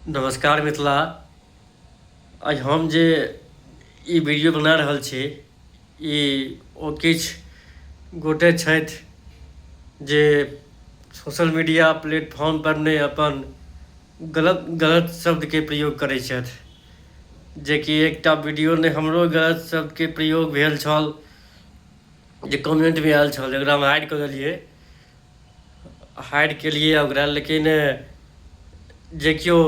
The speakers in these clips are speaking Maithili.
नमस्कार मिथिला आज हम जे ई वीडियो बना रहल छी ई ओ किछु गोटे छथि जे सोशल मीडिया प्लेटफॉर्म पर ने अपन गलत गलत शब्दके प्रयोग करै छथि जेकि एकटा वीडियो ने हमरो गलत शब्दके प्रयोग भेल छल जे कमेंटमे आयल छल एकरा हम हाइड कऽ देलियै हाइड केलिए ओकरा लेकिन जे केओ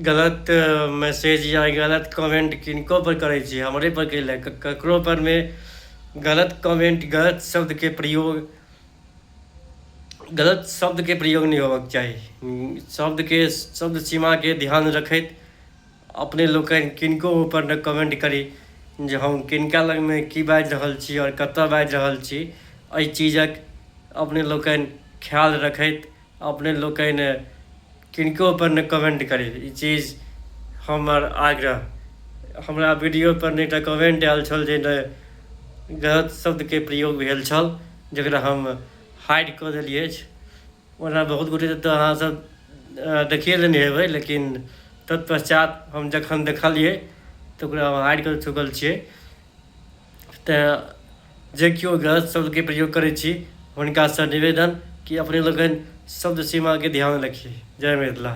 गलत मैसेज या गलत कमेन्ट किनकोपर करै छै हमरेपर कएलै ककरोपरमे गलत कमेन्ट गलत शब्दके प्रयोग गलत शब्दके प्रयोग नहि होबक चाही शब्दके शब्द सीमाके ध्यान रखैत अपने लोकनि किनको ओहिपर ने कमेंट करी जे हम किनका लगमे की बाजि रहल छी आओर कतय बाजि रहल छी एहि चीजक अपने लोकनि ख्याल रखैत अपने लोकनि किनकोपर ने कमेंट करी ई चीज हमर आग्रह हमरा वीडियोपर नहि टा कमेंट आयल छल जे नहि गलत शब्दके प्रयोग भेल छल जकरा हम हाइड कऽ देलियै अछि ओना बहुत गोटे तऽ अहाँसभ देखिए लेने हेबै लेकिन तत्पश्चात हम जखन देखलिए तऽ ओकरा हम हारि कऽ चुकल छियै तऽ जे केओ गलत शब्दके प्रयोग करै छी हुनकासँ निवेदन कि अपने लोकनि शब्द सीमाके ध्यान रखी जय मिथिला